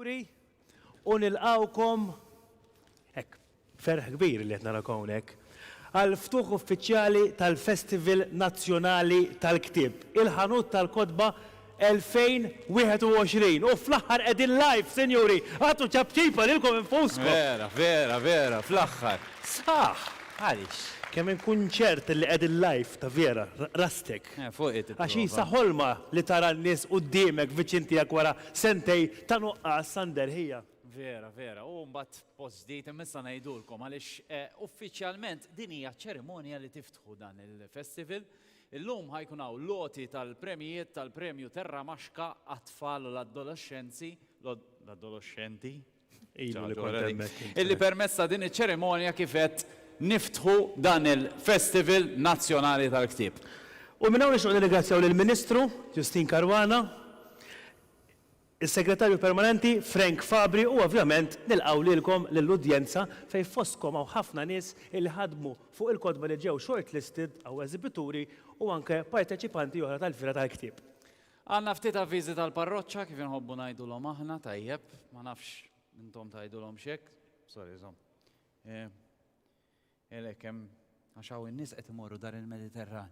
Juri, u nilqawkom hekk ferħ kbir li qed narak hawnhekk għal ftuħ uffiċjali tal-Festival Nazzjonali tal-Ktieb, il-ħanut tal-kotba 2021 u fl-aħħar qegħdin live sinjuri, agħtu ċapċip għalilkom infuskom! Vera, vera, vera, fl-aħħar. Sħaħ! Għaliex? Kemm inkun ċert li qegħdin live ta' vera, rastek. Eh, fuq hi tipprova. Għax hi sa ħolma li tara n-nies quddiemek viċin tiegħek wara sentejn ta' nuqqas sa nderħija. Vera, vera, u mbagħad post ġdid imma issa ngħidulkom għaliex eh, uffiċjalment din hija ċerimonja li tiftħu dan il-festival Illum ħa jkun hawn l-għoti tal-premjijiet tal-Premju Terra Maxka għat-Tfal u l-Adoloxxenzi, l-Adoloxxenti, Ilu li kont hemmhekk int. illi permezz ta' din iċ-ċerimonja kif għedt niftħu dan il-Festival Nazzjonali tal-Ktieb. U minn hawn nixtiequ nirringrazzjaw lill-Ministru Justyne Caruana, is-Segretarju Permanenti Frank Fabri u ovvjament nilqgħu lilkom lill-udjenza fejn fostkom hawn ħafna nies illi ħadmu fuq il-kotba li ġew shortlisted hawn eżibituri u anke parteċipanti oħra tal-Fiera tal-Ktieb. Għandna ftit avviżi tal-parroċċa kif inħobbu ngħidulhom aħna, tajjeb, ma nafx intom tgħidulhomx hekk, sorry żomm. Għalhekk hemm għax hawn in-nies qed imorru dar il-Mediterran.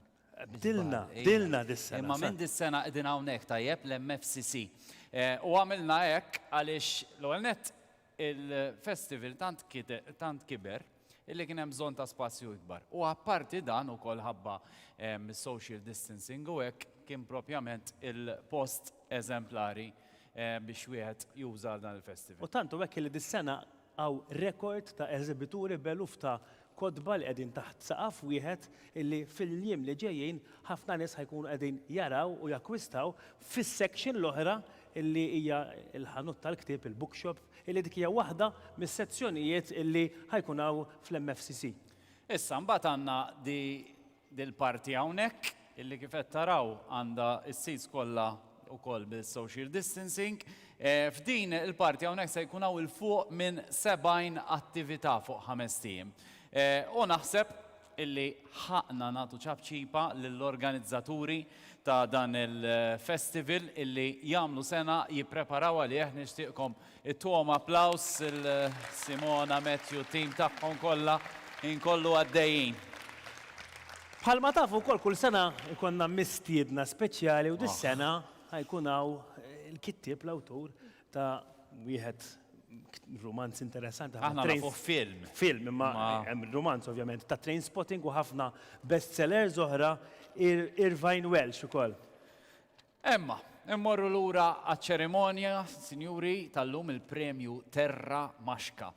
Bdilna, bdilna dis-sena. Imma minn dis-sena qegħdin hawnhekk tajjeb l-MFCC. U għamilna hekk għaliex l-ewwel nett il-festival tant kiber illi kien hemm bżonn ta' spazju ikbar. U apparti dan ukoll ħabba s-social distancing u hekk kien propjament il-post eżemplari biex wieħed juża għal dan il-festival. U tant hu hekk illi dis-sena Hawn rekord ta' eżibituri b'eluf ta' kotba li qegħdin taħt saqaf wieħed illi fil-jiem li ġejjin ħafna nies ħa jkunu qegħdin jaraw u jakkwistaw fis-section l-oħra illi hija l-ħanut tal-ktieb, il-bookshop, illi dik hija waħda mis-sezzjonijiet illi ħa jkun hawn fl-MFCC. Issa mbagħad għandna the Dil-parti hawnhekk, illi kif qed taraw għandha s-seats kollha wkoll bis-social distancing, f'din il-parti hawnhekk se jkun hawn 'il fuq minn 70 attività fuq ħamest ijiem. U naħseb illi ħaqqna nagħtu ċapċipa lill-organizzaturi ta' dan il-festival illi jagħmlu sena jippreparaw għalih, nixtieqkom It-togħma applaws lil Simona, Matthew u t-tim tagħhom kollha inkollu għaddejjin. Bħalma tafu wkoll kull sena jkollna mistiedna speċjali u dis-sena ħa jkun hawn il-kittieb l-awtur ta' wieħed rumanz interessanti ħafna. Aħna nafuh film. Film imma hemm rumanz ovvjament ta' Trainspotting u ħafna best sellers oħra Irvine Welsh ukoll. Imma, immorru lura għaċ-ċerimonja, sinjuri, tal-lum, il-Premju Terra Maxka.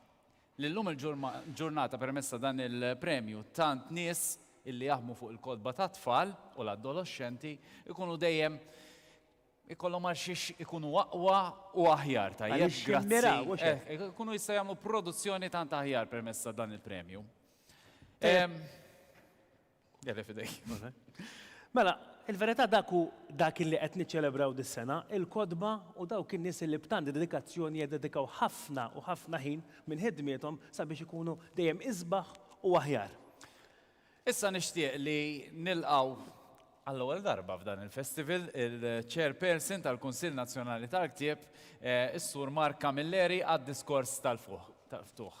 Li llum il-ġurnata permezz ta' dan il-premju tant nies illi jaħdmu fuq il-kotba tat-tfal u l-addoloxxenti ikunu dejjem ikollhom għal xiex ikunu aqwa u aħjar tajjeb grazzi. Ikunu jista' jagħmlu produzzjoni tant aħjar permezz ta' dan il-premju. Għalli fidejk. Mela, il-verità dak hu dak illi qed niċċelebraw dis-sena, il-kotba u dawk in-nies illi b'tant dedikazzjoni jiddedikaw ħafna u ħafna ħin minn ħidmiethom sabiex ikunu dejjem isbaħ u aħjar. Issa nixtieq li nilqgħu għall-ewwel darba f'dan il-festival il-Chairperson tal-Kunsill Nazzjonali tal-Ktieb, is-Sur Mark Camilleri għad-diskors tal-ftuħ.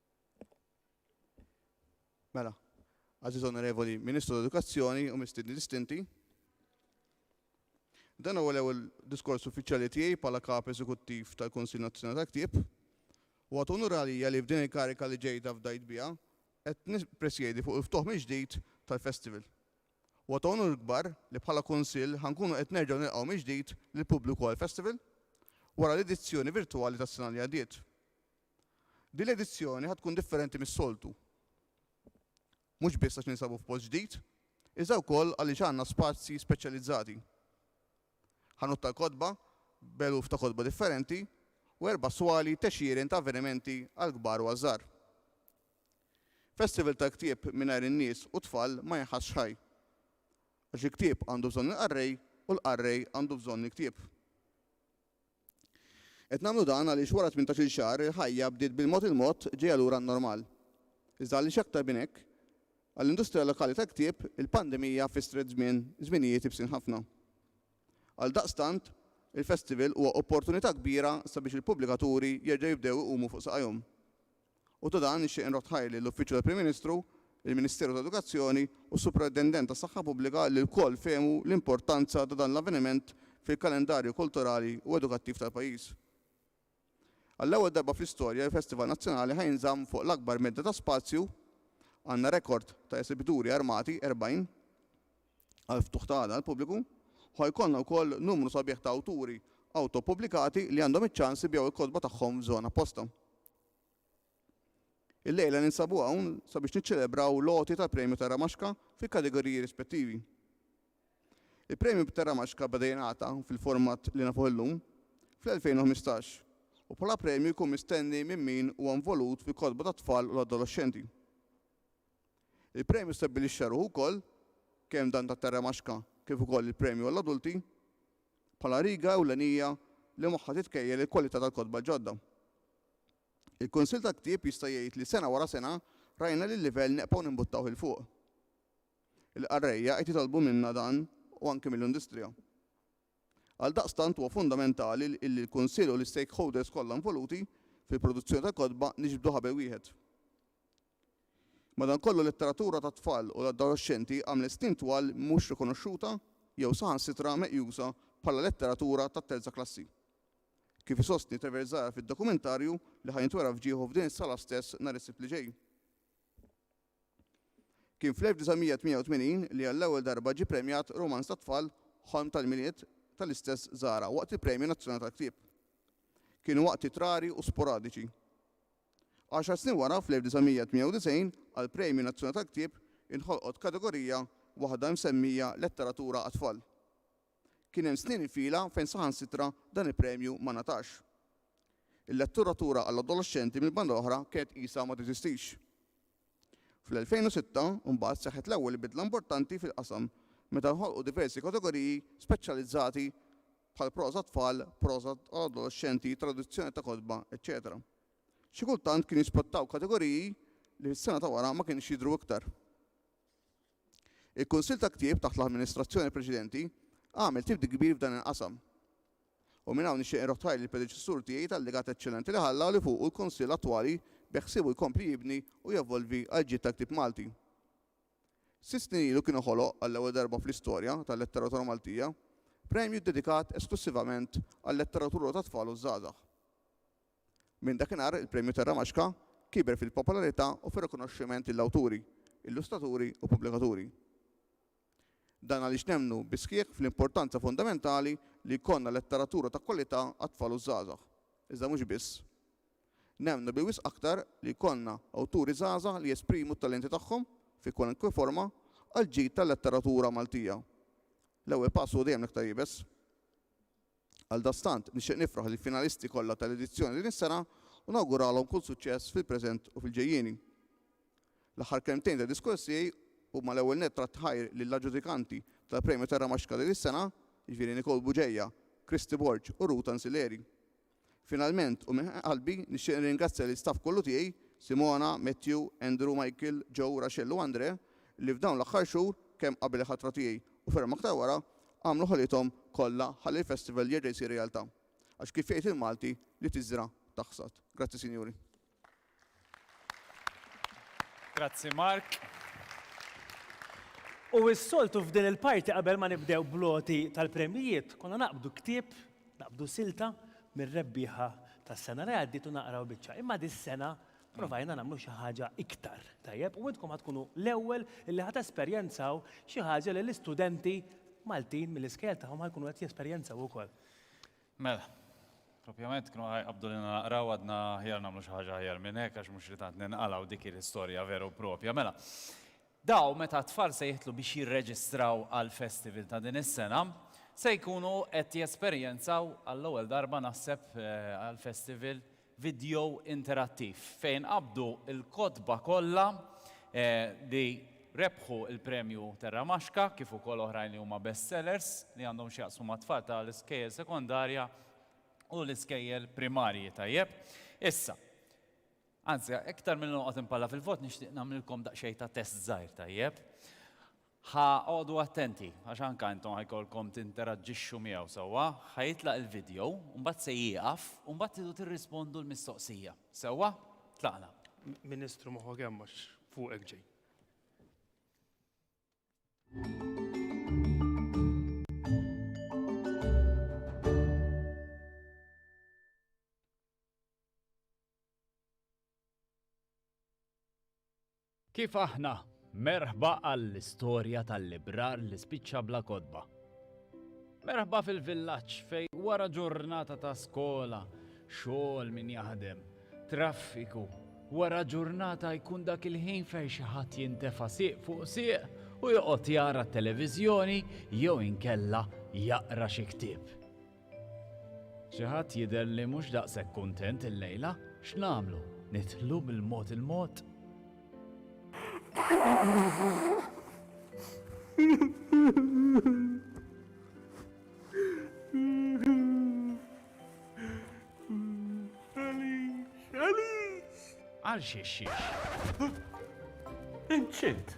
Mela, għażiż onorevoli Ministru tal-Edukazzjoni u mistiedni distinti, dan huwa l-ewwel diskors uffiċjali tiegħi bħala Kap Eżekuttiv tal-Kunsill Nazzjonali tal-Ktieb u għad unur għalija li f'din il-kariga li ġejda fdajt biha qed nippresjedi fuq il-ftuħ mill-ġdid tal-Festival. Huwa ta' unur kbar li bħala Kunsill ħa nkunu qed nerġgħu nilqgħu mill-ġdid lill-pubbliku għall-Festival wara l-edizzjoni virtwali tas-sena li għaddiet. Din l-edizzjoni ħa tkun differenti mis-soltu. Mhux biss għax ninsabu f'post ġdid, iżda wkoll għaliex għandna spazji speċjalizzati. Ħanut tal-kotba b'eluf ta' kotba differenti u erba' swali t'għexieren ta' avvenimenti għall-kbar u għaż-żgħar. Festival tal-ktieb mingħajr in-nies u t-tfal ma jinħassx ħaj. Għax il-ktieb għandu bżonn il-qarrej u l-qarrej għandu bżonn il-ktieb. Qed nagħmlu dan għaliex wara tmintax-il xahar il-ħajja bdiet bil-mod il-mod ġejja lura n-normal. Iżda għaliex aktar minn hekk? Għall-industrija lokali tal-ktieb, il-pandemija fissret żmien, żminijiet ibsin ħafna. Għaldaqstant, il-festival huwa opportunità kbira sabiex il-pubblikaturi jerġgħu jibdew iqumu fuq saqajhom. u dwar dan nixtieq inrodd ħajrli l-Uffiċċju tal-Prim Ministru, il-Ministeru ta' Edukazzjoni u s-Superintendent tas-Saħħa Pubblika li lkoll fehmu l-importanza ta' dan l-avveniment fil-kalendarju kulturali u edukattiv tal-pajjiż. Għall-ewwel darba fl-istorja il-Festival Nazzjonali ħa jinżamm fuq l-akbar medda ta' spazju, għandna rekord ta' esibituri armati, 40, għall-ftuħ ta' għada għall-pubbliku, u ħa jkollna wkoll numru sabiħ ta' awturi awto-ppubblikati li għandhom iċ-ċans ibigħu l-kotba tagħhom f'żona apposta. Illejla ninsabu hawn sabiex niċċelebraw l-għoti tal-Premju Tarramaxka fil-kategoriji rispettivi. Il-Premju Tarramaxka beda jingħata fil-format li nafuh illum fl-2015 u bħala premju jkun mistenni minn min huwa involut fil-kotba tat-tfal u l-adoloxxenti. Il-premju stabbilixxa ruħu wkoll, kemm dan tat-Tarramaxka kif ukoll il-premju għall-adulti, bħala riga ewlenija li magħha titkejjel il-kwalità tal-kotba ġodda. Il-Kunsill tal-Ktieb jista' jgħid li sena wara sena rajna li l-livell neqbgħu nimbuttawh 'il fuq. Il-qarrejja qed jitolbu minna dan u anki mill-industrija. Għaldaqstant huwa fundamentali illi l-Kunsill u l-istakeholders kollha involuti fil-produzzjoni tal-kotba niġbdu ħabel wieħed. Madankollu l-letteratura tat-tfal u l-adoloxxenti għamlet snin twal mhux rikonoxxuta jew saħansitra meqjusa bħala letteratura tat-terza klassi. Kif isostni Treverzaia fid-dokumentarju li ħa jintwera f'ġieħu f'din is-sala stess nhar is-Sibt li ġej. Kien fl-1988 li għall-ewwel darba ġie premjat rumanz tat-tfal Ħolm tal-Milied tal-istess Zahra waqt il-Premju Nazzjonali tal-Ktieb. Kienu waqtiet rari u sporadiċi. Għaxar snin wara, fl-1998, għall-Premju Nazzjonali tal-Ktieb inħolqot kategorija waħda msemmija Letteratura għat-Tfal. Kien hemm snin fila fejn saħansitra dan il-premju ma ngħatax. Il-letturatura għall-adoloxxenti mill-banda l-oħra kienet qisha ma teżistix. Fl-2006, imbagħad, seħħet l-ewwel bidla importanti fil-qasam meta nħolqu diversi kategoriji speċjalizzati bħal proża għat-tfal, proża għall-adolexxenti, traduzzjoni ta' kotba, eċċetera Xi kultant kienu jispottaw kategoriji li fis-sena ta' wara ma kinux jidhru iktar. Il-Kunsill ta' Ktieb taħt l-amministrazzjoni preċedenti għamel tibdil kbir f'dan il-qasam. U minn hawn nixtieq inroħħ ħajr lill-predeċessur tiegħi tal-legat eċċellenti li ħalla li fuqu l-Kunsill attwali beħsiebu jkompli jibni u jevolvi għall-ġid tal-ktieb Malti. Sitt snin ilu kien ħoloq, għall-ewwel darba fl-istorja tal-letteratura Maltija, premju ddedikat esklussivament għal-letteratura tat-tfal u ż-żgħażagħ. Minn dakinhar il-Premju tar-Ramaxka kiber fil-popolarità u fir-rikonoxximent lill-awturi, illustraturi u pubblikaturi. Dan għaliex nemmnu bis-sħiħ fl-importanza fundamentali li jkollna letteratura ta' kwalità għat-tfal u ż-żgħażagħ, iżda mhux biss. Nemmnu bi wisq aktar li jkollna awturi żgħażagħ li jesprimu t-talenti tagħhom, fi kwalunkwe forma, għall-ġid tal-letteratura Maltija. L-ewwel pass huwa dejjem l-iktar iebes. Għaldaqstant, nixtieq nifraħ lill-finalisti kollha tal-edizzjoni din is-sena u nawguralhom kull suċċess fil-preżent u fil-ġejjieni. L-aħħar kelmtejn tad-diskors tiegħi huma l-ewwel nett tratt ta' ħajr lill-aġġudikanti tal-Premju Terra Max Kali dis-sena, jiġifieri Nicole Bugeja, Christy Borg u Ruth Ansileri. Finalment u minn qalbi nixtieq nirringrazzja lill-istaff kollu tiegħi, Simona, Matthew, Andrew, Michael, Joe, Rachel u Andre, li f'dawn l-aħħar xhur, kemm qabel il-ħatra tiegħi u ferm aktar wara, għamlu ħolithom kollha ħalli l-festival jerġa' jsir realtà. Għax kif jgħid il-Malti, li tiżra' taħsad. Grazzi sinjuri. Grazzi Mark. U s-soltu f'din il-parti qabel ma nibdew bl-għoti tal-premjijiet, konna naqbdu ktieb, naqbdu silta mir-rebbieħa tas-sena li għaddiet u naqraw biċċa. Imma dis-sena provajna nagħmlu xi ħaġa iktar, tajjeb, u intkom ħa tkunu l-ewwel li ħa tesperjenzaw xi ħaġa li l-istudenti Maltin mill-iskejjel tagħhom ħa jkunu qed jesperjenzaw ukoll. Mela. Propjament kienu ħa jqabbdu lilna naqraw għadna aħjar nagħmlu xi ħaġa aħjar minn hekk għax mhux li tant ninqalgħu dik hi l-istorja vera u propja. Mela. Dawn meta t-tfal se jidħlu biex jirreġistraw għall-festival ta' din is-sena se jkunu qed jesperjenzaw għall-ewwel darba naħseb għall-festival vidjo interattiv fejn qabdu l-kotba kollha li rebħu l-Premju Terra Maxka kif ukoll oħrajn li huma best sellers li għandhom x'jaqsmu mat-tfal ta' l-iskejjel sekondarja u l-iskejjel primarji tajjeb. Issa. Anzi, iktar milli noqgħod inpalla fil-vot nixtieq nagħmlilkom daqsxejn ta' test żgħir tajjeb. Ħa qogħdu attenti, għax anke intom ħa jkollkom tinteraġġixxu miegħu sewwa. Ħa jitlaq il-vidjow u mbagħad se jieqaf u mbagħad tridu tirrispondu l-mistoqsija. Sewwa? Tlaqna. Ministru moħħok hemm għax fuqek ġej. Kif aħna? Merħba għall-istorja tal-librar li spiċċa bla kotba. Merħba fil-villaġġ fej wara ġurnata ta' skola, xogħol min jaħdem, traffiku, wara ġurnata jkun dak il-ħin fejn xi ħadd jintefa' sieq fuq sieq u joqgħod jara t-televiżjoni jew inkella jaqra xi ktieb. Xi ħadd jidher li mhux daqshekk kuntent illejla. X'nagħmlu? Nidħlu bil-mod il-mod? Għal xiex xiex? Inċint!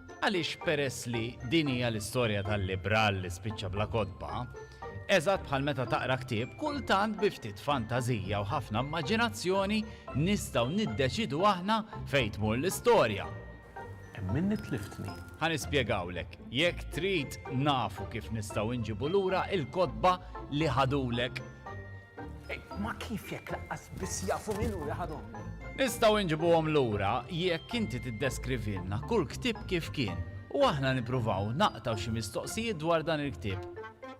Għaliex peress li din hija l-istorja tal-libral li spiċċa bla kotba, eżatt bħal meta taqra ktieb, kultant bi ftit fantażija u ħafna immaġinazzjoni nistgħu niddeċidu aħna fejn tmur l-istorja. Hemm minni tliftni. Ħa nispjegawlek, jekk trid nafu kif nistgħu nġibu lura il-kotba li ħadulek. Imma kif jekk laqqas biss jafu min hu li ħadhomni? Nistgħu nġibuhom lura jekk inti tiddeskrivilna kull ktieb kif kien u aħna nippruvaw naqtgħu xi mistoqsijiet dwar dan il-ktieb.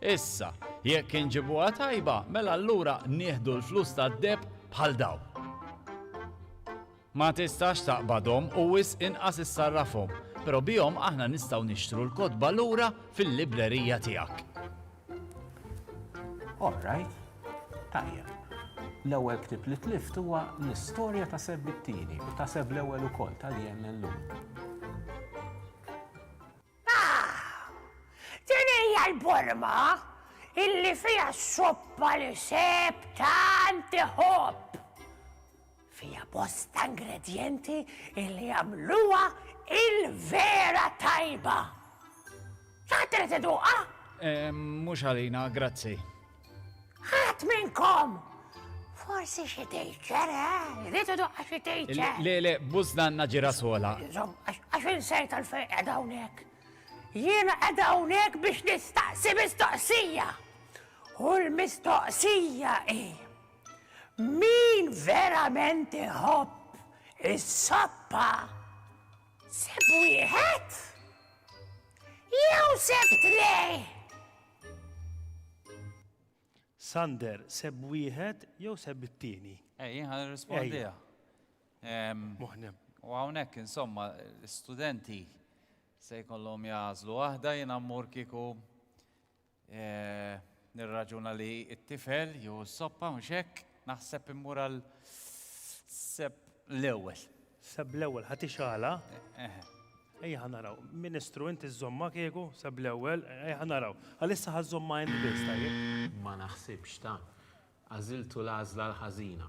Issa, jekk inġibuha tajba, mela allura nieħdu l-flus tad-deheb bħal dawn. Ma tistax taqbadhom u wisq inqas issarrafhom, però bihom aħna nistgħu nixtru l-kotba lura fil-librerija tiegħek. All right. Tajjeb. L-ewwel ktieb li tlift huwa l-istorja ta' Seb it-Tieni u ta' Seb l-Ewwel ukoll ta' Li Hemm Illum. Din hija l-borma illi fiha s-soppa li Seb tant iħobb! Fiha bosta ingredjenti li jagħmluha il-vera tajba. Ħadd irid iduqha? Eh, mhux għalina, grazzi. Ħadd minnkom! Forsi xi tejċer, eh? Irid iduqha xi tejċer. Le, le, bużna għandna ġira sola. Żomm, għax insejt għalfejn qed hawnhekk. Jiena qed hawnhekk biex nistaqsi mistoqsija. U l-mistoqsija hi. Min verament iħobb is-soppa seb wieħed jew seb tnej? Sander, seb wieħed jew seb it-tieni? Ej, jien ħan irrispondiha. Muħnem. U hawnhekk insomma l-istudenti se jkollhom jażlu waħda jien ammur kieku Nirraġuna li t-tifel jew is-soppa, mhux hekk? Naħseb immur għal Sepp l-ewwel. Sepp l-ewwel, ħa tixgħalha? Eħe. Ejja ħa naraw. Ministru, inti żżommha kieku, Sepp l-ewwel, ejja ħa naraw. Għalissa ħa żżommha int biss, tajjeb? Ma naħsibx, ta. Għażiltu l-għażla l-ħażina.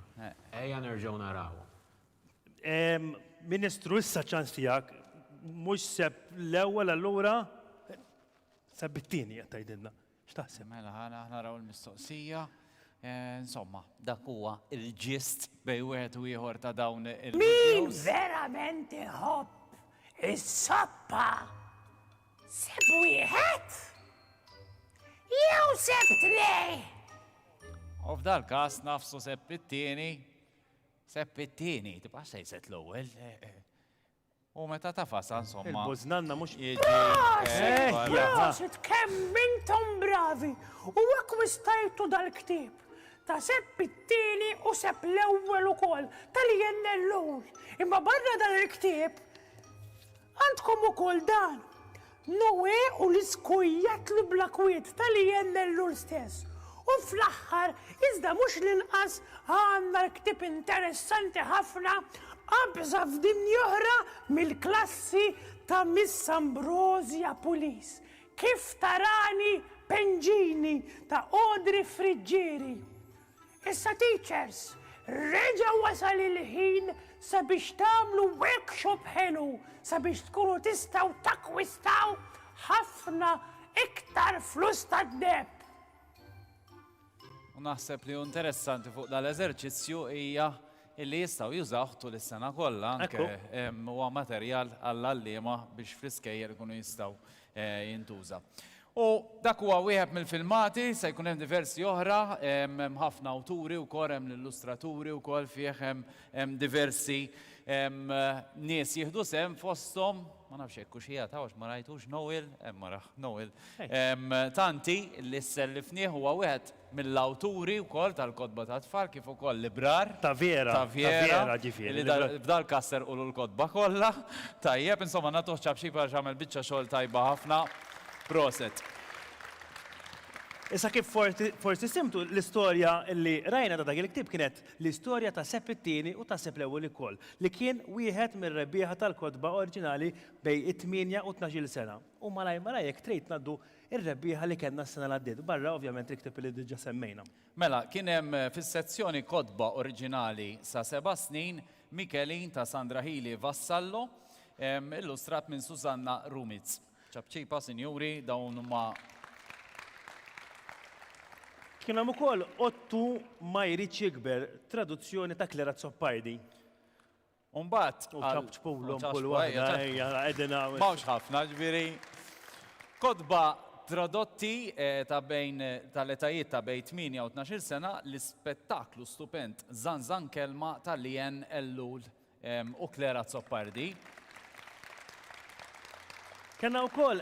Ejja nerġgħu narawhom. Ministru, issa ċ-ċans tiegħek. Mhux Sepp l-ewwel allura? Sa bit-tieni qed tgħidilna. X'taħseb? Mela ħana naraw il-mistoqsija. Insomma, dak huwa il-ġist bej wieħed u ieħor ta' dawn il-videos. Min verament iħobb is-soppa seb wieħed jew seb tnej. U f'dal każ nafsu seb it-tieni, seb it-tieni, tibqa' sejset l-ewwel. U meta tafasha insomma. Il-bużnanna mhux jiġi. Prosit kemm intom bravi u akkwistajtu dal-ktieb ta' Sepp it-Tieni u Sepp l-Ewwel ukoll tal-INLU imma barra dan il-ktieb għandkom ukoll dan Noè u l-iskui jatlu bla kwiet talli jemmel lul stess. U fl-aħħar, iżda mhux l-inqas, għandna l-ktieb interessanti ħafna Qabża f'Dinja Oħra mill-klassi ta' Miss Ambrosia Pulis, Kif Tarani Pengini ta' Audrey Friggieri. Issa teachers, reġa' wasal il-ħin sabiex tagħmlu workshop ħelu sabiex tkunu tistgħu takkwistaw ħafna iktar flus tad-deheb. U naħseb li hu interessanti fuq dal-eżerċizzju hija illi jistgħu jużawh tul is-sena kollha anke huwa materjal għall-għalliema biex fl-iskejjel ikunu jistgħu jintuża. U dak huwa wieħed mill-filmati, se jkun hemm diversi oħra, hemm ħafna awturi wkoll, hemm l-illustraturi wkoll fih, hemm diversi nies jieħdu sehem fosthom, ma nafx jekk hux qiegħed hawn għax ma rajtux, Noel, hemm araħ, Noel, Tanti li sellifnieh huwa wieħed mill-awturi wkoll tal-kotba tat-tfal kif ukoll librar Ta' vera, ta' ta' vera, vera, ġifieri, li librar. da' f'dal-każ serqulu l-kotba kollha. Tajjeb, insomma, nagħtuh ċapċip għaliex għamel biċċa xogħol tajba ħafna. Proset. Issa kif forsi forsi simtu, l-istorja li qrajna ta' dak il-ktieb kienet l-istorja ta' Sepp it-Tieni u ta' Sepp l-Ewwel ukoll, li kien wieħed mir-rebbieħa tal-kotba oriġinali bejn it-tmienja u t-tnax-il sena. U malajr malajr jekk trid ngħaddu ir-rebbieħa li kellna s-sena li għaddiet, barra ovvjament il-ktieb li diġà semmejna. Mela, kien hemm fis-sezzjoni Kotba Oriġinali sa Seba' Snin, Mikelin ta' Sandra Healy Vassallo, illustrat minn Susanna Rumitz. Ċapċipa, sinjuri, dawn huma Kien hemm ukoll Ottu ma jridx jikber, traduzzjoni ta' Clara Azzopardi. U mbagħad U għal- ċapċpulhom ċapċpu, kull waħda, ejja, ċapċpu. ejja, qegħdin hawn. M'hawnx ħafna, ġifieri kotba tradotti eh, ta' bejn tal-etajiet ta' bejn 8 u 12-il sena, l-ispettaklu stupend Żanżan Kelma ta' Leanne Ellul ehm, u Claire Azzopardi. Kellna wkoll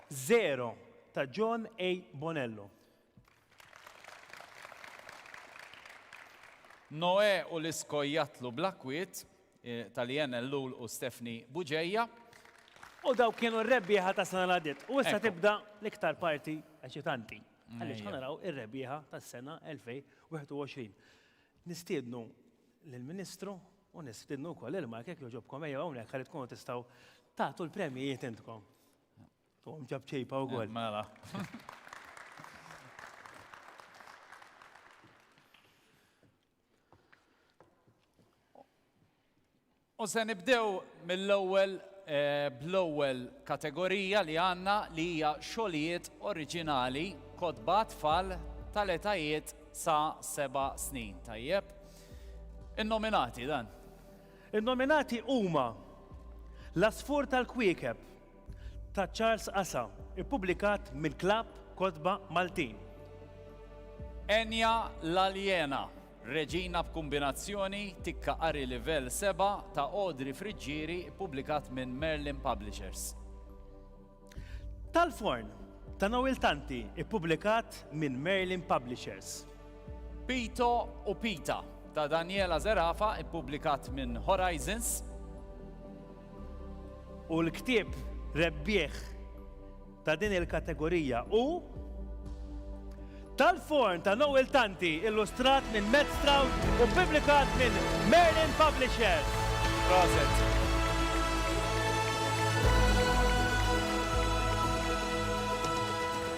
Żero ta' John A. Bonello. Noè u l-iskojjatlu bla kwiet, ta' Leanne Ellul u Stephanie Bugeja. U dawk kienu r-rebbieħa tas-sena li għaddiet. U issa tibda l-iktar parti eċitanti. Għaliex ħa naraw ir-rebbieħa tas-sena 2021. Nistiednu lill-Ministru u nistiednu wkoll lil Mark jekk jogħġobkom ejjew hawnhekk ħalli tkunu tistgħu tagħtu l-premjijiet intkom. Tom ġab ċejpa u għol. Mela. U se nibdew mill-ewwel eh, bl-ewwel kategorija li għandna li hija xogħlijiet oriġinali kotba tfal tal-etajiet sa seba' snin. Tajjeb. In-nominati dan. In-nominati huma L-asfur tal-kwiekeb ta' Charles Asa, ippubblikat minn Klabb Kotba Maltin. Enja l-Aljena, Reġina b'Kumbinazzjoni, Tikka Qari Livell Seba', ta' Audrey Friggieri, ippubblikat minn Merlin Publishers. Tal-Forn, ta' Noel Tanti, ippubblikat minn Merlin Publishers. Pito u Pita, ta' Daniela Zerafa, ippubblikat minn Horizons. U l-ktieb rebbieħ ta' din il-kategorija hu Tal-Forn ta' Noel Tanti, illustrat minn Matt Stroud u ppubblikat minn Merlin Publishers. Proset.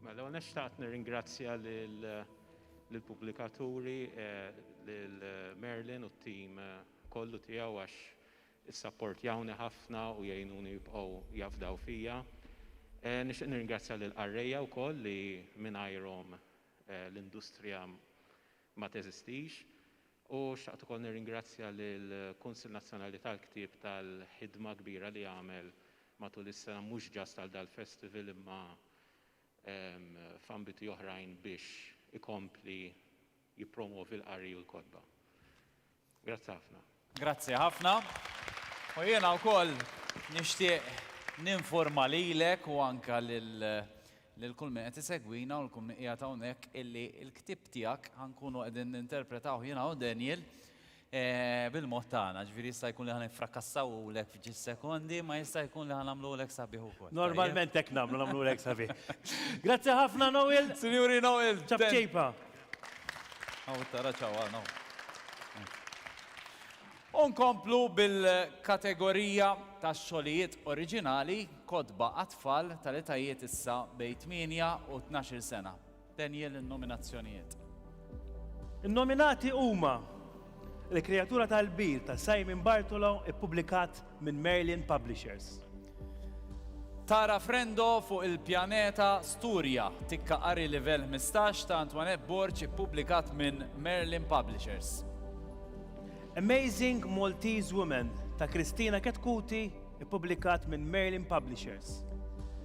Mela, l-ewwel nett xtaqt nirringrazzja lill-pubblikaturi, lil Merlin u t-tim kollu tiegħu għax issapportjawni ħafna u jgħinuni jibqgħu jafdaw fija. Nixtieq nirringrazzja lill-qarrejja wkoll li mingħajrhom l-industrija ma teżistix u xtaqt ukoll nirringrazzja lill-Kunsill Nazzjonali tal-Ktieb tal-ħidma kbira li għamel matul is-sena mhux ġast għal dal-festival imma f'ambiti oħrajn biex ikompli jippromwovi l-qari u l-kotba. Grazzi ħafna. Grazzi ħafna. U jiena wkoll nixtieq ninforma lilek u anke lil lil kull min qed isegwina u l-kull min qiegħed hawnhekk illi l-ktieb tiegħek ħa nkunu qegħdin ninterpretawh jiena u Daniel bil-mod tagħna, ġifieri jista' jkun li ħa nifrakassawhulek f'ġis sekondi, ma jista' jkun li ħa nagħmluhulek sabiħ ukoll. Normalment hekk nagħmlu, nagħmluhulek sabiħ. Grazzi ħafna Noel! Sinjuri Noel! Ċapċejpa! Hawn tara ċawal hawn. U nkomplu bil-kategorija tax-xogħlijiet oriġinali, kotba għat-tfal tal-etajiet issa bejn tmienja u tnax-il sena. Daniel in-nominazzjonijiet. In-nominati huma Il-Kreatura tal-Kbir ta' Simon Bartolo ippubblikat minn Merlin Publishers. Tara Frendo fuq il-Pjaneta Sturja, Tikka Qari Livell Ħmistax ta' Antoinette Borg ippubblikat minn Merlin Publishers. Amazing Maltese Women ta' Christina Chetcuti Ippubblikat minn Merlin Publishers.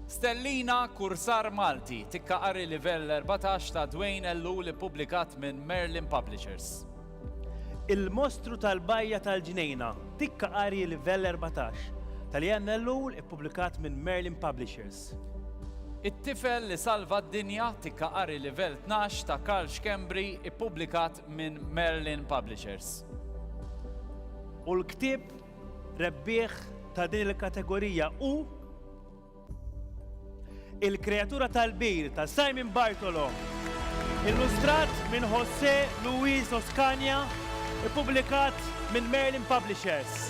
Stellina, kursar Malti, tikka qari livell erbatax ta' Dwayne Ellul ippubblikat minn Merlin Publishers. Il-Mostru tal-Bajja tal-Ġnejna, tikka qari livell erbatax, ta' Leanne Ellul ippubblikat minn Merlin Publishers. It-Tifel li Salva d-Dinja, tikka qari livell tnax, ta' Karl Schembri ippubblikat minn Merlin Publishers. U l-ktieb Rebbieħ ta' din il-kategorija hu Il-Kreatura tal-Bir ta' Simon Bartolo, illustrat minn José Luis Oscania, ippubblikat minn Merlin Publishers.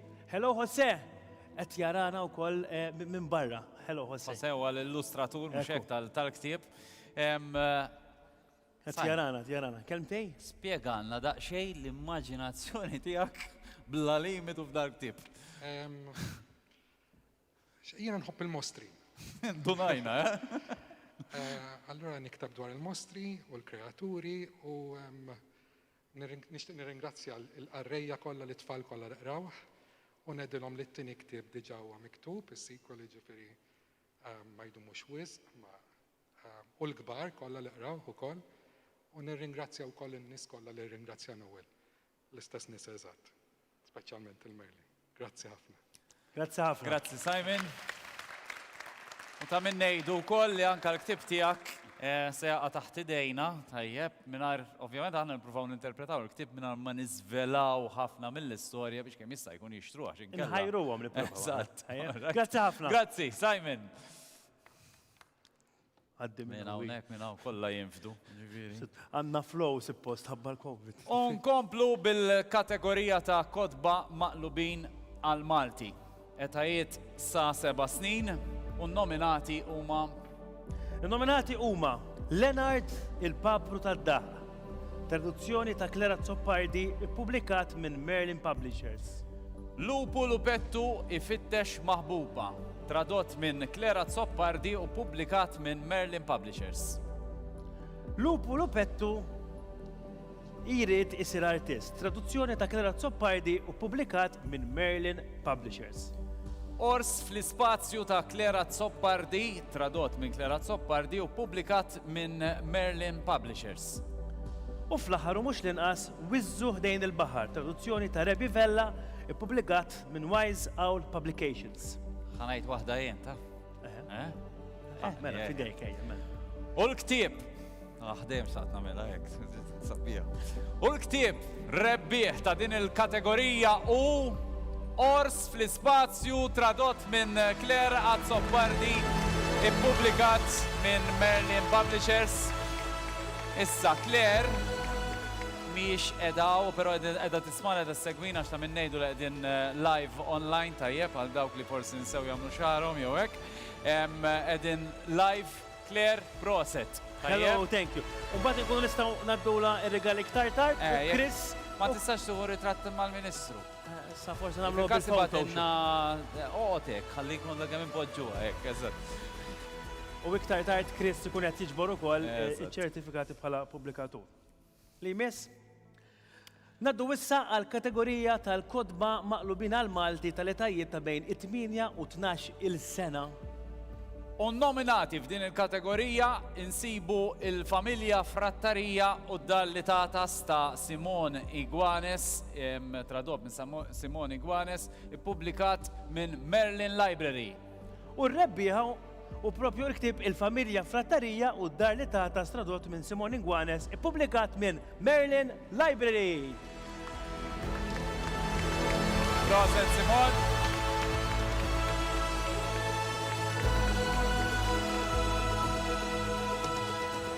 Hello Jose! Qed jarana wkoll minn barra. Hello Jose. Jose huwa l-illustratur mhux hekk tal-ktieb. Qed jarana, jarana. Kelmtej? Spjegalna daqsxejn l-immaġinazzjoni tiegħek bla limitu f'dal-ktieb. Jiena nħobb il-mostri. Indunajna, eh? Allura niktab dwar il-mostri u l-kreaturi u Nixtieq nirringrazzja l-qarrejja kollha lit-tfal kollha li qrawh u ngħidilhom li t-tieni ktieb diġà huwa miktub, is-sequel jiġifieri ma jdumux wisq, ma u l-kbar kollha li qrawh ukoll u nirringrazzja wkoll in-nies kollha li rringrazzja Noel, l-istess nies eżatt. Speċjalment il-mejli. Grazzi ħafna. Grazzi ħafna. Grazzi Simon. U ta' min ngħidu wkoll li anke l-ktieb tiegħek se jaqa' taħt idejna, tajjeb, mingħajr ovvjament aħna nippruvaw ninterpretaw il-ktieb mingħajr ma niżvelaw ħafna mill-istorja biex kemm jista' jkun jixtruh għax inkella. Inħajruhom nippruvaw. Eżatt. Grazzi ħafna. Grazzi, Simon. Għaddi minn Minn hawnhekk. hawnhekk minn hawn kollha jinfdu. Ġifieri. Għandna flow suppost ħabba l-Covid. U nkomplu bil-kategorija ta' kotba maqlubin għall-Malti. Etajiet sa seba' snin u n-nominati huma. In-nominati huma Leonard il-Papru tad-Daqq, Traduzzjoni ta' Clara Azzopardi ippubblikat minn Merlin Publishers. Lupu Lupettu ifittex maħbuba, tradott minn Clara Azzopardi u ppubblikat minn Merlin Publishers. Lupu Lupettu jrid isir artist, traduzzjoni ta' Clara Azzopardi u ppubblikat minn Merlin Publishers. Ors fl-ispazju ta' Clara Azzopardi, tradott minn Clara Azzopardi u ppubblikat minn Merlin Publishers. U fl-aħħar u mhux l-inqas, Wiżżu Ħdejn il-Baħar, traduzzjoni ta' Rebbi Vella, ippubblikat minn Wise Owl Publications. Ħa ngħid waħda jien, taf? Mela, fidejk, ejja, mela. U l-ktieb! Aħdejjem saqt nagħmilha hekk. Sabiħ. U l-ktieb rebbieħ ta' din il-kategorija u Ors fl-Ispazju tradott minn Claire Azzopardi ippubblikat minn Merlin Publishers. Issa Claire miex edaw, pero edha tismana edha segwina xta minn nejdu li edin eh, live online tajjeb għal dawk li forsi nsew jamlu xarom jew hekk. Edin live Claire, proset. Hello, thank you. U mbagħad inkunu nistgħu ngħaddulha r-rigali iktar tard u Chris. Ma tistax tieħu ritratt mal-Ministru. Issa forsi nagħmlu bil-photo. Issa bagħtilna oqgħod hekk, ħalli jkun dak kemm inpoġġuha hekk, eżatt. U iktar tard Chris ikun qed jiġbor ukoll iċ-ċertifikati bħala pubblikatur. li jmiss. Ngħaddu issa għall-kategorija tal-kotba maqlubin għall-Malti tal-etajiet ta' bejn it-tmienja u tnax il sena. U nnominati f'din il-kategorija insibu l-familja Frattarija u d-dar li tagħtas ta' Simon Iguanes, tradott minn Simon Iguanes, ippubblikat minn Merlin Library. U r-rebbieħa hu proprju l-ktieb Il-Familja Frattarija u d-Dar li Tagħtas tradott minn Simon Inguanes ippubblikat minn Merlin Library. Proset Simon.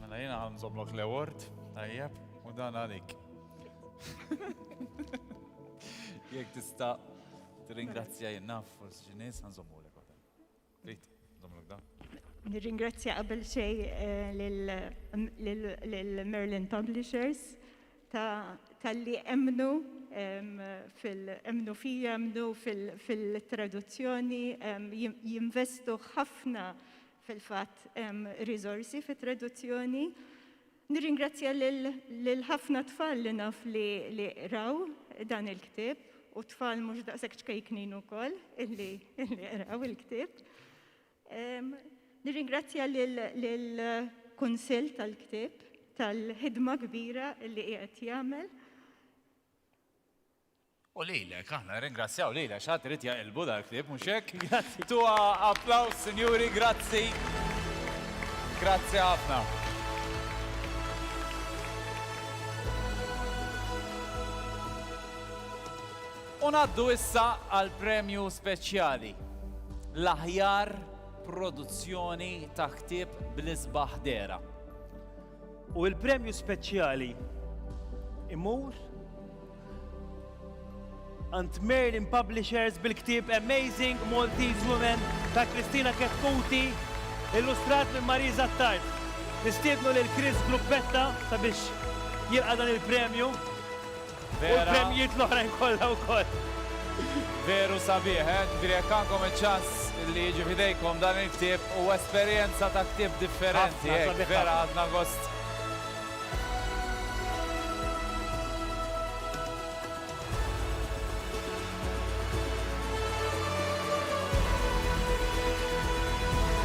Mela jiena ħanżomlok l-award, tajjeb, u dan għalik. Jek tista' tirringrazzja jinnaf forsi xi nies ħanżommu lek waħda. Trid, żomlok dan. Nirringrazzja qabel xej lill-Merlin Publishers tal-li emnu fil-emnu fija, emnu fil-traduzzjoni, jinvestu ħafna Fil-fatt hemm riżorsi fit-traduzzjoni. Nirringrazzja lil ħafna tfal li naf li li qraw dan il-ktieb u tfal mhux daqshekk ċkejknin ukoll illi illi qraw il-ktieb. Nirringrazzja lil kunsill tal-ktieb tal-ħidma kbira li qiegħed jagħmel. U lilek, aħna nirringrazzjaw lilek, xi ħadd irid jaqilbu dal-ktieb, mhux hekk? Grazzi. Tuha applaws, sinjuri, grazzi. Grazzi ħafna. U naddu issa għal premju speċjali. L-aħjar produzzjoni ta' ktib bl-isbaħ dera. U il-premju speċjali imur għand Merlin Publishers bil-ktieb Amazing Maltese Women ta' Kristina Ketkuti, illustrat minn Marie Zattard. Nistiednu lil Chris Gruppetta sabiex jilqa' dan il-premju. U l-premjijiet l-oħrajn kollha wkoll. Veru sabiħ, eh? Ġifieri jekk għandkom iċ-ċans li jiġi f'idejkom dan il-ktieb, huwa esperjenza ta' ktieb differenti. Ħafna, sabiħ ħafna. Vera ħadna gost.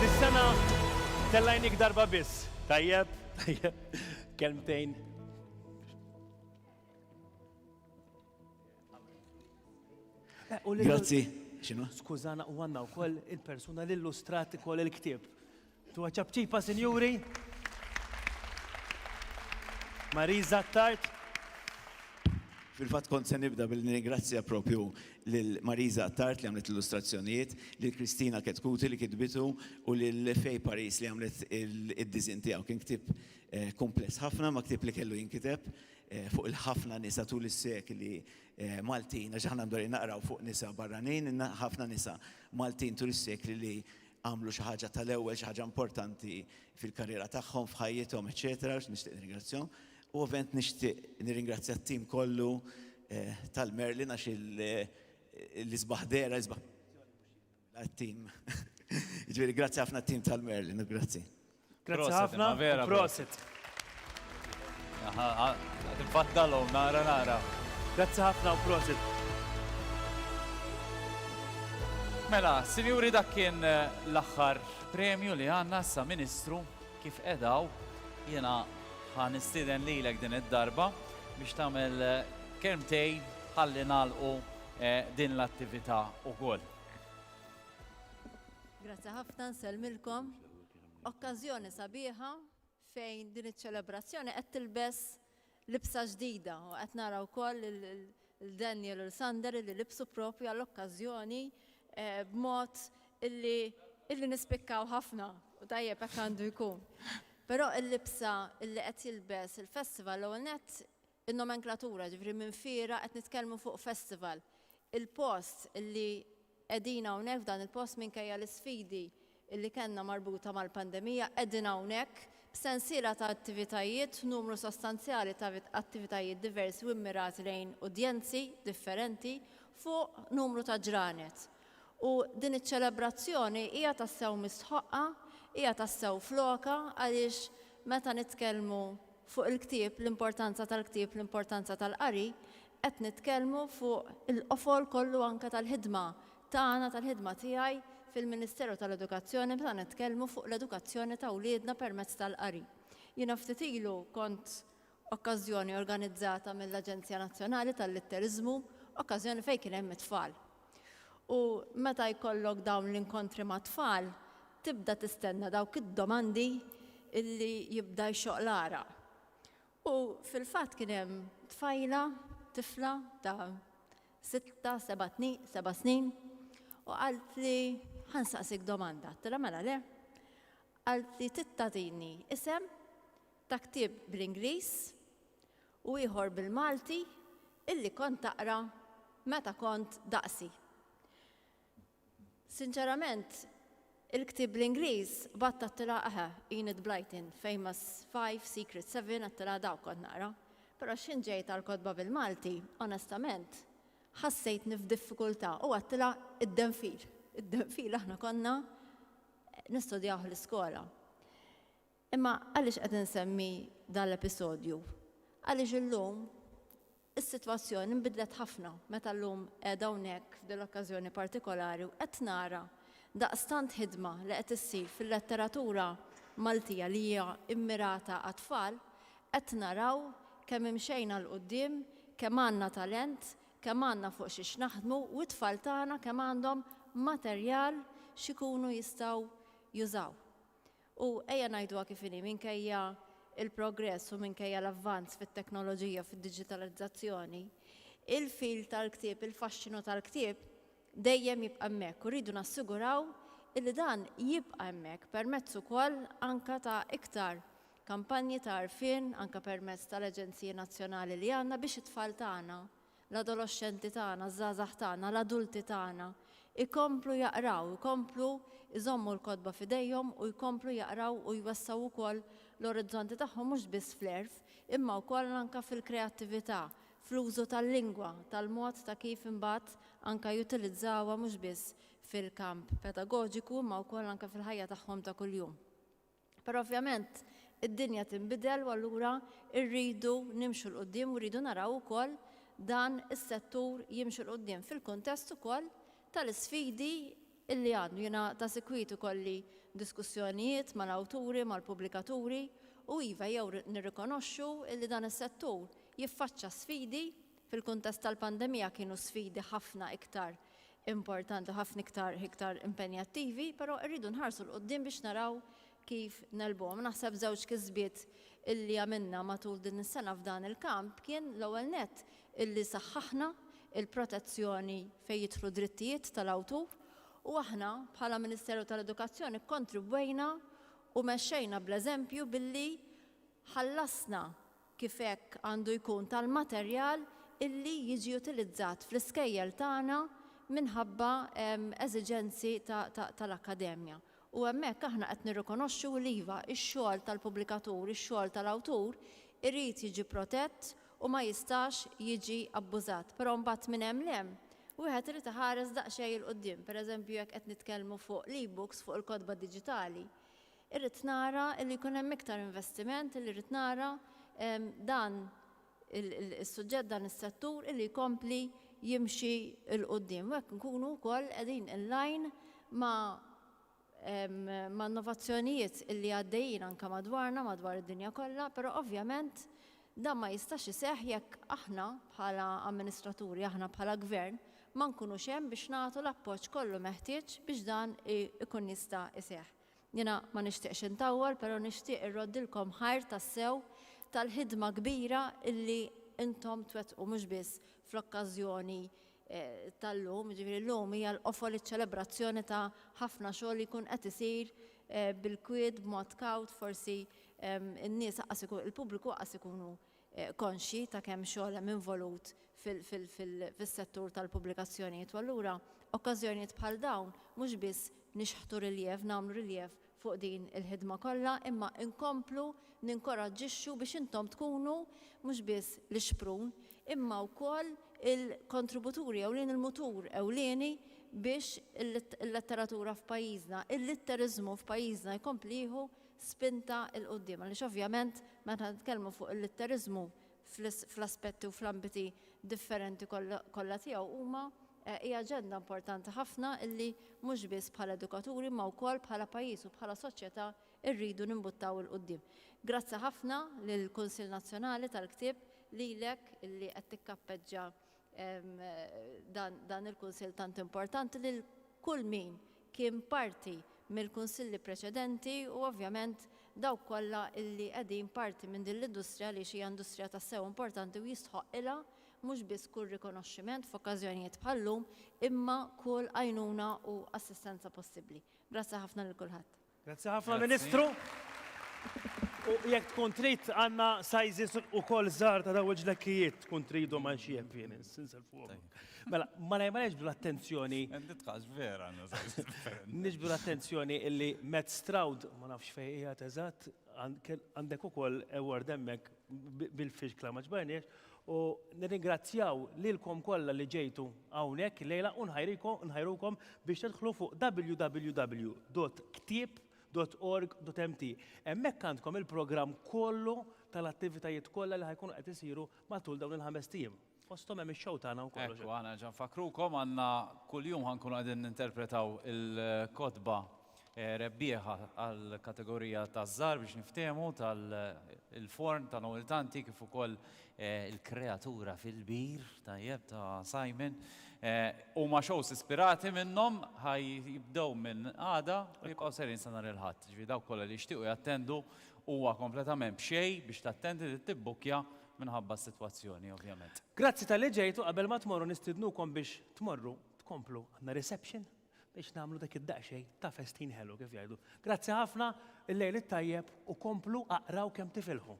Dis-sena tellgħinik darba biss, tajjeb? Kelmtejn. Grazzi. Xinu? Skużana u għanna u koll il-persuna l-illustrati koll il-ktib. Tu ċabċipa, sinjuri? Marisa Tart. Fil-fat kont se nibda billi ningrazzja propju lil Marisa Tart li għamlet l-illustrazzjonijiet, lil Kristina Ketkuti li kitbitu u lil Fej Paris li għamlet id-dizin tiegħu. Kien ktib Kumpless ħafna ma' ktieb li kellu jinkiteb fuq il-ħafna nisa tul is-sekli Maltin, għax aħna mdorrin naqraw fuq nisa barranin, ħafna nisa Maltin tul is-sekli li għamlu xi ħaġa tal-ewwel, xi ħaġa importanti fil-karriera tagħhom, f'ħajjithom, eċċetera, għax nixtieq nirringrazzjahom. U ovvjament nixtieq nirringrazzja t-tim kollu tal-Merlin għax l-isbaħ dera, l-isbaħ Għat-tim. Ġviri, grazzi ħafna t-tim tal-Merlin, grazzi. Grazzi ħafna, vera. Prosit. Għatinfaddalom, nara, nara. Grazzi ħafna u prosit. Mela, sinjuri dak kien eh, l-axħar premju li għanna sa ministru kif edaw jena ħan istiden li l din id-darba biex tamel eh, kelmtej ħalli nalqu eh, din l-attività u koll. Grazzi ħafna nsellmilkom. Okkażjoni sabiħa fejn din iċ-ċelebrazzjoni qed tilbes libsa ġdida u qed nara wkoll il-Daniel u l-Sander li libsu propju għall-okkażjoni eh, b'mod illi illi nispikkaw ħafna u tajjeb hekk għandu jkun. Però il-libsa illi qed jilbes il-festival l net In-nomenklatura, jiġifieri minn fiera qed nitkellmu fuq festival. Il-post li qegħdin hawnhekk f'dan il-post minkejja l-isfidi li kellna marbuta mal-pandemija qegħdin hawnhekk b'sensiela ta' attivitajiet, numru sostanzjali ta' attivitajiet diversi u mmirati lejn udjenzi differenti fuq numru ta' ġranet. U din iċ-ċelebrazzjoni hija tassew mistħoqqa, hija tassew f'lokha għaliex meta nitkellmu Fuq il-ktieb, l-importanza tal-ktieb, l-importanza tal-qari, qed nitkellmu fuq il-qofol kollu anke tal-ħidma tagħna, tal-ħidma tiegħi fil-Ministeru tal-Edukazzjoni meta nitkellmu fuq l-edukazzjoni ta' wliedna permezz tal-qari. Jiena ftit ilu kont okkażjoni organizzata mill-Aġenzija Nazzjonali tal-Litteriżmu, okkażjoni fejn kien hemm it-tfal. U meta jkollok dawn l-inkontri mat-tfal, tibda tistenna dawk id-domandi li jibda jxoqq l-għaraq. U fil-fatt kien hemm tfajla, tifla ta' sitta, seba' tni, seba' snin, u qalt li ħansaqsik domanda. Għattilha mela le. Qalt li tittagħtini isem ta' ktieb bl-Ingliż u ieħor bil-Malti illi kont taqra meta kont daqsi. Sinċerament, il-ktieb bl-Ingliż bgħadt għat-tilgħa eħe, Enid Blyton, Famous Five, Secret Seven, għat-tilgħa dawk kont naqra. Però x'ħin ġejt għall-kotba bil-Malti, onestament, ħassejtni f'diffikultà u għat-tilgħa id-denfil. Id-denfil aħna konna nistudjawh l-iskola. Imma għaliex qed insemmi dan l-episodju? Għaliex illum is-sitwazzjoni nbidlet ħafna meta llum qiegħda hawnhekk f'din l-okkażjoni partikolari u qed nara daqstant ħidma li qed issir fil-letteratura Maltija li hija mmirata għat-tfal, qed naraw kemm imxejna 'l quddiem, kemm għandna talent, kemm għandna fuq xiex naħdmu u t-tfal tagħna kemm għandhom materjal x'ikunu jistgħu jużaw. U ejja ngħiduha kif inhi, minkejja l-progress u minkejja l-avvanz fit-teknoloġija u fid-diġitalizzazzjoni, il-feel tal-ktieb, il-faxxinu tal-ktieb dejjem jibqa' hemmhekk u rridu nassiguraw illi dan jibqa' hemmhekk permezz ukoll anke ta' iktar kampanji ta' għarfien anke permezz tal-aġenziji nazzjonali li għandna biex it-tfal tagħna l-adoloxxenti tagħna, ż-żgħażagħ tagħna, l-adulti tagħna jkomplu jaqraw, jkomplu jżommu l-kotba f'idejhom u jkomplu jaqraw u jwessgħu wkoll l-orizzonti tagħhom mhux biss fl-għerf imma wkoll anke fil-kreattività, fl-użu tal-lingwa, tal-mod ta' kif imbagħad anke jutilizzawha mhux biss fil-kamp pedagoġiku imma wkoll anke fil-ħajja tagħhom ta' kuljum. Però ovvjament id-dinja tinbidel u allura rridu nimxu 'l quddiem u rridu naraw ukoll dan is-settur jimxi 'l quddiem fil-kuntest ukoll tal-isfidi li għandu. Jiena ta' sikwit ikolli diskussjonijiet mal-awturi, mal-pubblikaturi u iva jew nirrikonoxxu li dan is-settur jiffaċċa sfidi, fil-kuntest tal-pandemija kienu sfidi ħafna iktar importanti u ħafna iktar iktar impenjattivi, però rridu nħarsu 'l quddiem biex naraw kif negħlbuhom. Naħseb żewġ kisbiet illi għamilna matul din is-sena f'dan il-kamp kien l-ewwel nett illi saħħaħna l-protezzjoni fejn jidħlu drittijiet tal-awtur u aħna bħala Ministeru tal-Edukazzjoni kkontribwejna u mexxejna bl-eżempju billi ħallasna kif hekk għandu jkun tal-materjal illi jiġi utilizzat fl-iskejjel tagħna minħabba eżiġenzi tal-akkademja. U hemmhekk aħna qed nirrikonoxxu li iva, ix-xogħol tal-pubblikatur, ix-xogħol tal-awtur irid jiġi protett u ma jistax jiġi abbużat. Però mbagħad minn hemm 'l hemm wieħed irid iħares daqsxejn 'il quddiem. Pereżempju jekk qed nitkellmu fuq l-e-books, fuq il-kotba diġitali, Irrid nara li jkun hemm iktar investiment, illi rrid nara dan is-suġġett, dan is-settur illi jkompli jimxi 'l quddiem u hekk nkunu wkoll qegħdin in line ma' ma' innovazzjonijiet illi għaddejjin anke madwarna, madwar id-dinja kollha, però ovvjament dan ma jistax iseħħ jekk aħna bħala amministraturi, aħna bħala gvern ma nkunux hemm biex nagħtu l-appoġġ kollu meħtieġ biex dan ikun jista' iseħħ. Jiena ma nixtieqx intawwal pero nixtieq irroddilkom ħajr tassew tal-ħidma kbira illi intom twettqu mhux biss fl-okkażjoni tal-lum, jiġifieri llum hija l-qofol iċ-ċelebrazzjoni ta' ħafna xogħol li jkun qed isir bil-kwiet, b'mod kawt, forsi n-nies aqqas il-pubbliku aqqas ikunu konxji ta' kemm xogħol hemm involut fis-settur tal-pubblikazzjonijiet u allura okkażjonijiet bħal dawn mhux biss nixħtu riljev, nagħmlu riljev fuq din il-ħidma kollha imma nkomplu ninkoraġġixxu biex intom tkunu mhux biss l-ixprun imma wkoll il-kontributuri ewlieni, il-mutur ewlieni biex il-letteratura f'pajjiżna, il-litteriżmu f'pajjiżna jkompli jieħu spinta 'l quddiem għaliex ovvjament meta nitkellmu fuq il-litteriżmu fl-aspetti u fl-ambiti differenti kollha tiegħu huma hi aġenda importanti ħafna li mhux biss bħala edukaturi imma wkoll bħala pajjiż u bħala soċjetà rridu nimbuttaw 'l quddiem. Grazzi ħafna lill-Kunsill Nazzjonali tal-Ktieb, lilek li qed tikkappeġġa dan il-Kunsill tant importanti lil kull min kien parti mill-Kunsilli preċedenti u ovvjament dawk kollha illi qegħdin parti minn din l-industrija għaliex hija industrija tassew importanti u jistħoqqilha mhux biss kull rikonoxximent f'okkażjonijiet bħal-lum imma kull għajnuna u assistenza possibbli. Grazzi ħafna lil kulħadd. Grazzi ħafna Ministru. U jekk tkun trid għandna sizes ukoll żgħar ta' daw il-ġlekkijiet tkun tridhom għal xi jepien insel fuq. Mela, ma lejma neġbdu l-attenzjoni. Nitqax vera għandna sizes differenti. Niġbdu l-attenzjoni illi Matt Stroud ma nafx fejn qiegħed eżatt għandek ukoll award hemmhekk bil-firkla ma ġbarniex u nirringrazzjaw lilkom kollha li ġejtu hawnhekk lejla u nħajrukom biex tidħlu fuq www.ktieb.org.mt. Hemmhekk għandkom il-programm kollu tal-attivitajiet kollha li ħajkunu qed isiru matul dawn il-ħames tim. Fosthom hemm ix-show tagħna u kollox. Ekku, aħna nerġa' nfakkrukom, għandna kuljum ħa nkunu qegħdin ninterpretaw il-kotba rebbieħa għall-kategorija taż-żgħar biex niftehmu tal-forn ta' Noel Tanti kif ukoll il-kreatura fil-bir, tajjeb, ta' Simon. Huma shows ispirati minnhom ħa jibdew minn għada u jibqgħu sejrin sa nhar il-Ħadd. Ġifieri dawk kollha li jixtiequ jattendu huwa kompletament b'xejn biex tattendi trid tibbukkja minħabba s-sitwazzjoni ovvjament. Grazzi talli ġejtu, qabel ma tmorru nistiednukom biex tmorru tkomplu għandna reception biex nagħmlu dak id-daqsxejn ta' festin ħelu kif jgħidu. Grazzi ħafna, il-lejl it-tajjeb u komplu aqraw kemm tifilħu.